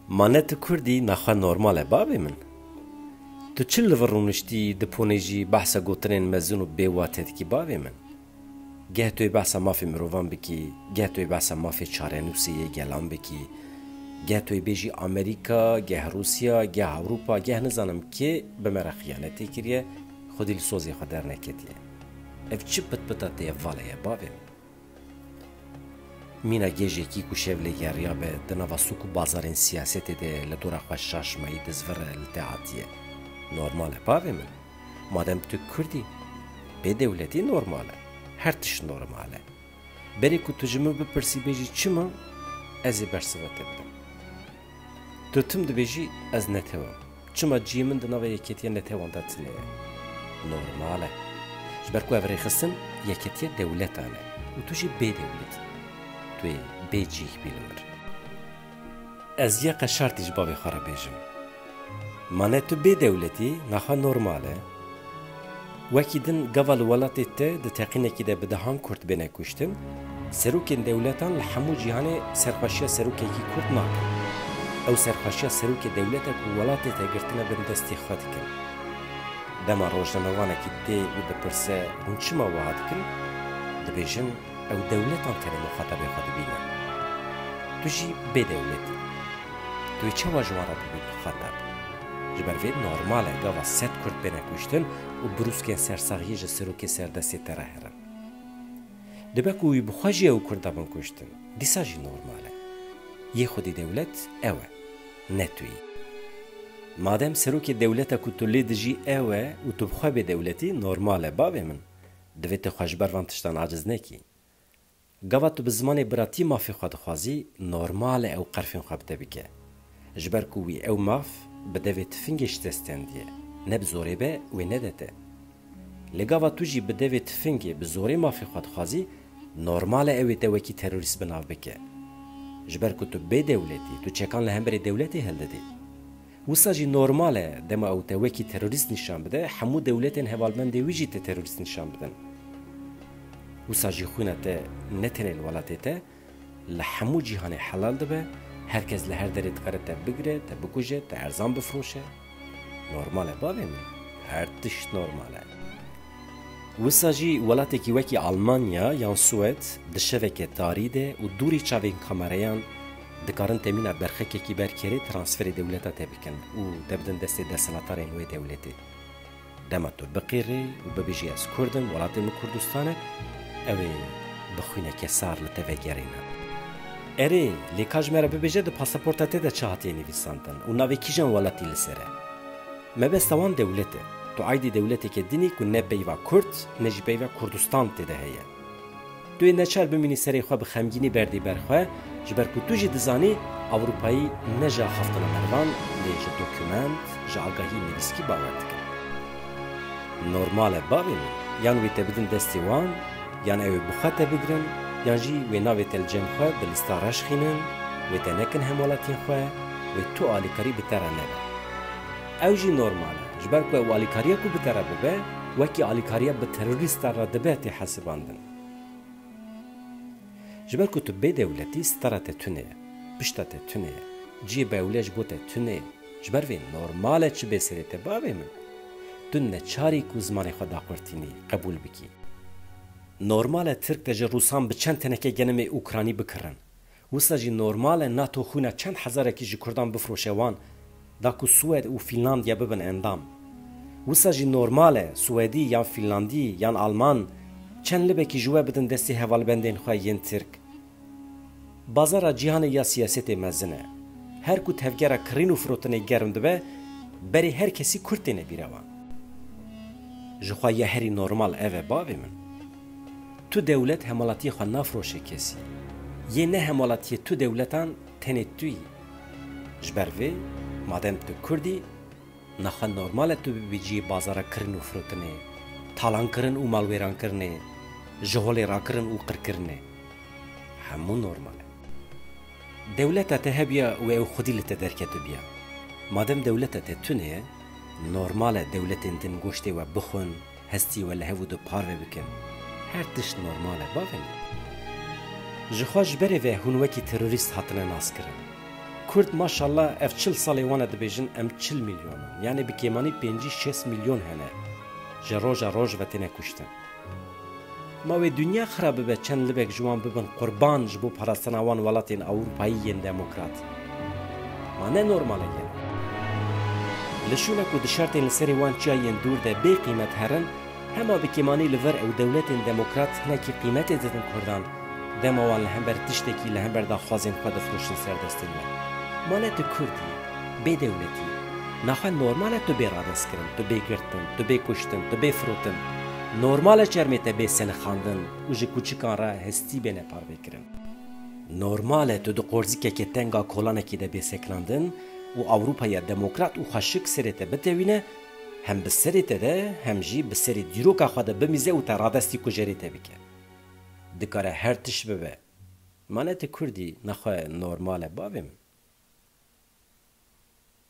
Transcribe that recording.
Ma ne tu kurd î ne xwe normal e bavê min? Tu çi li vir rûniştî di ponê jî behsa gotinên mezin û bê wate dikî bavê min? Geh tu yê behsa mafê mirovan bikî, geh tu yê behsa mafê çarenûsê yê gelan bikî, geh tu yê bêjî Amerîka, geh Rûsya, geh Ewropa, geh nizanim kê bi me re xiyanetê kiriye, xwedî li sozê xwe derneketiye. Ev çi pitpita te ye vale ye bavê min? Mîna gêjekî ku şevlê geriya be di nava sûk û bazarên siyasetê de li dora xwe şaş mayî dizvir e li te hatiye. Normal e bavê min. Madem tu kurd î, bê dewletî normal e. Her tişt normal e. Berê ku tu ji min bipirsî bêjî çima, ez ê bersiva te bidim. Tu tim dibêjî ez netew im. Çima ciyê min di nava yekêtiya netewan de tune ye. Normal e. Ji ber ku ev rêxistin yekêtiya dewletan e û tu jî bê dewlet î. Tu yê bê cih bî li mir. Ez ya qeşartî ji bavê xwe re bêjim. Ma ne tu bê dewlet î, naxwe normal e. Wekî din gava li welatê te di teqînekî de bi dehan Kurd bêne kuştin, serokên dewletan li hemû cîhanê serxweşiya serokekî Kurd nakin. Ew serxweşiya serokê dewlete ku welatê te girtine bin destê xwe dikin. Dema rojnamevanekî tê û dipirse hûn çima wiha dikin, dibêjin ew dewletan tenê muxatabê xwe dibîne. Tu jî bê dewletî. Tu ê çawa ji wan re bibî muxatab? Ji ber vê normal e gava sed Kurd bêne kuştin û brûskên sersaxiyê ji serokê serdestê te re herin. Dibe ku wî bi xwe jî ew Kurd dabin kuştin, dîsa jî normal e. Yê xwedî dewlet ew e, ne tu yî. Madem serokê dewleta ku tu lê dijî ew e û tu bi xwe bê dewletî, normal e bavê min, divê tu xwe ji ber van tiştan aciz nekî. Gava tu bi zimanê biratî mafê xwe dixwazî, normal e ew qerfên xwe bi te bike. Ji ber ku wî ew maf bi devê tifingê ji te stendiye, ne bi zorê be wê nede te. Lê gava tu jî bi devê tifingê bi zorê mafê xwe dixwazî, normal e ew ê te wekî terorîst bi nav bike. Ji ber ku tu bê dewletî, tu çekan li hemberî dewletê hildidî. Wisa jî normal e dema ew te wekî terorîst nîşan bide, hemû dewletên hevalbendê wî jî te terorîst nîşan bidin. Wisa jî xwîna te ne tenê li welatê te, li hemû cîhanê helal dibe, her kes li her derê dikare te bigire, te bikuje, te erzan bifroşe. Normal e bavê min, her tişt normal e. Wisa jî welatekî wekî Almanya yan Swêd di şeveke tarî de û dûrî çavên kamereyan dikarin temîna berxekekî ber kerê transferê dewleta te bikin û te bidin destê desthilatarên wê dewletê. Dema tu biqîrî û bibijî ez kurd im, welatê min Kurdistan e, ew ê bi xwîneke sar li te vegerîne. Erê, lê ka ji me re bibêje di pasaporta te de çi hatiye nivîsandin û navê kîjan welatî li ser e? Mebesta wan dewlet e. Tu aydî dewleteke din î ku ne peyva Kurd ne jî peyva Kurdistan tê de heye. Tu yê neçar bimînî serê xwe bi xemgînî berdî ber xwe ji ber ku tu jî dizanî Ewropayî ne ji axaftina mervan lê ji dokumant, ji agahî nivîskî bawer dike. Normal e bavê min yan wê te bidin destê wan yan ew ê bi xwe te bigirin yan jî wê navê te li cem xwe bi lista reşxînin, wê te nekin hemwelatiyên xwe, wê tu alîkarî bi te re nebe. Ew jî normal e, ji ber ku ew alîkariya ku bikare bibe, wekî alîkariya bi terorîstan re dibe tê hesibandin. Ji ber ku tu bê dewletî stara te tune ye, pişta te tune ye, cihê bewle ji bo te tune ye. Ji ber vê normal e çi bê serê te bavê min. Tu neçar î ku zimanê xwe daqurtînî, qebûl bikî. Normal e tirk te ji rûsan bi çend teneke genimê ûkranî bikirin. Wisa jî normal e nato xwîna çend hezarekî ji kurdan bifroşe wan da ku Swêd û Fînlandya bibin endam. Wisa jî normal e Swêdî yan Fînlandî yan Alman çend libekî ji we bidin destê hevalbendên xwe yên Tirk. Bazara cîhanê ya siyasetê mezin e. Her ku tevgera kirîn û firotinê germ dibe berê her kesî kurd têne bîra wan. Jixwe ya herî normal ev e bavê min. Tu dewlet hemalatiyê xwe nafroşe kesî. Yê ne hemalatiyê tu dewletan tenê tu yî. Ji ber vê madem tu kurd î, naxwe normal e tu bibî cihê bazara kirin û firotinê, talankirin û malwêrankirinê, ji holê rakirin û qirkirinê. Hemû normal e. Dewleta te hebûya wê ew xwedî li te derketibûya. Madem dewleta te tune ye, normal e dewletên din goştê we bixwin, hestî we li hev û di par ve bikin. Her tişt normal e bavê min. Jixwe ji berê ve hûn wekî terorîst hatine naskirin. Kurd maşallah ev çil salê wan e dibêjin em çil milyon in. Yanê bi kêmanî pêncî şêst milyon hene ji roja roj ve têne kuştin. Ma wê dinya xira bibe çend libek ji wan bibin qurban ji bo parastina wan welatên Ewrupayî yên demokrat. Ma ne normalek e. Li şûne ku di şertên li serê wan çiya yên dûr de bê qîmet herin, hema bi kêmanî li vir ew dewletên demokrat hinekî qîmetê didin kurdan, dema wan li hember tiştekî li hember daxwazên xwe difiroşin serdestên we. Ma ne tu kurd î, bê dewletî î. Naxwe normal e tu bê radestkirin, tu bê girtin, tu bê kuştin, tu bê firotin. Normal e çermê te bê selixandin û ji kûçikan re hestî bêne parvekirin. Normal e tu di qorzikeke tenga kolanekî de bê sekinandin û Ewropaya demokrat û xweşik serê te bitewîne, hem bi serê te de hem jî bi serê dîroka xwe de bimîze û te radestî kujerê te bike. Dikare her tişt bibe. Ma ne tu Kurd î, nexwe normal e bavê min.